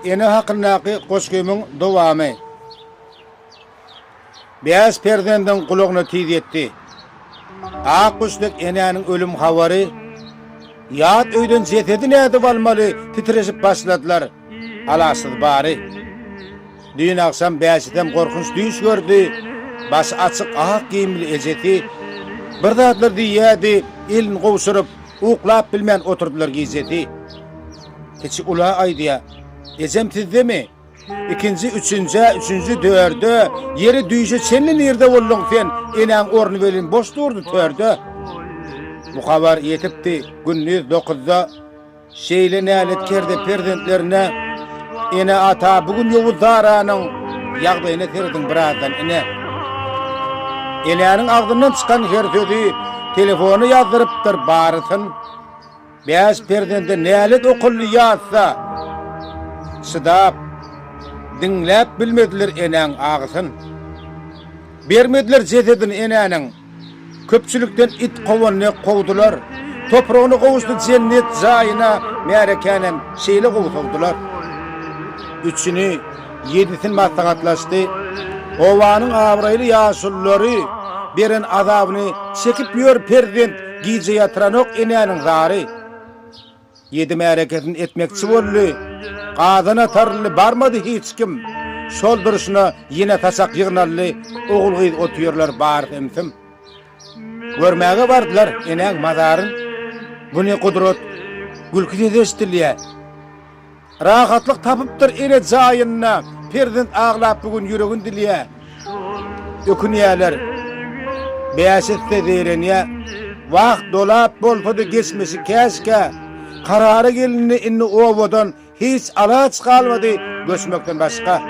Ene hakyndaky goşgymyň dowamy. Bäş perzendiň gulagyna tiz ýetdi. Ak guş dek enäniň ölüm habary. Ýat öýden jesedi nädip almaly, titreşip başladylar. Alaçsyz bary. Düýn agşam Bäşidem gorkunç düýş gördi. Başy açyk ak geýimli ejesi bir zadlar diýýärdi, elini gowşuryp, uklap bilmän oturdylar gijesi. Kiçi ula aýdýar, Ejem sizdemi? Ikinji, üçünjä, üçünji, dördä, ýeri düýşe çenli nirde bolduň sen, enäň orny welin boş durdy törde. Bu habar ýetipdi, gündiz dokuzda. Şeýle nälet kerde perzentlerine Ene ata bu gün ýowuz zaranyň Ýagdaýyna serediň birazdan ine Enäniň agzyndan çykan her sözi Telefona ýazdyrypdyr barysyn Bäş perzende nälet okuldy ýazsa Çydap diňläp bilmediler enäň agysyn Bermediler jesedini enäniň Köpçülikden it kowan dek kowdular, Topragyna gowuşdy jennet jaýyna Märekänem şeýle gowy sowdular. Üçüni, ýedisin maslahatlaşdy, Obanyň abraýly ýaşululary Beren azabyny çekip ýör perzent Gije ýatyranok enäniň zary. Ýedi märekesin etmekçi boldy. Gazan atarly barmady hiç kim. Şol durşuna ýene saçak ýygnaldy, ogul-gyz otyrlar bar hem-sim. Görmäge bardylar enäň mazaryn. Bu ne gudrat, gülki sesi eşidilýär. Rahatlyk tapypdyr ele jaýynda perzent aglap bu gün ýüregin dilýä ökünýäler bäş esse zeýrenýä wagt dolap bolsady geçmişi käşkä karara gelindi indi obadan hiç alaç galmady göçmekden başga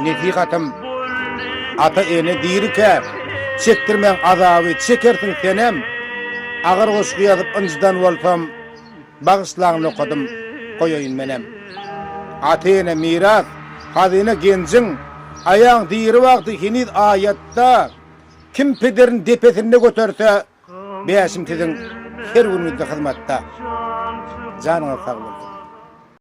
nesihatym ata ene dirikä çekdirmäň azaby çekersiň senem agyr goşgy ýazyp ynjydan bolsam Bagyşlaň nokadym goýaýyn menem. Ata-ene miras, hazyna genjiň, Aýaň diri wagty heniz aýatda, Kim pederini depesinde göterse, Bäşim siziň her günüňizde hyzmatda. Janyňyz sag bolsun.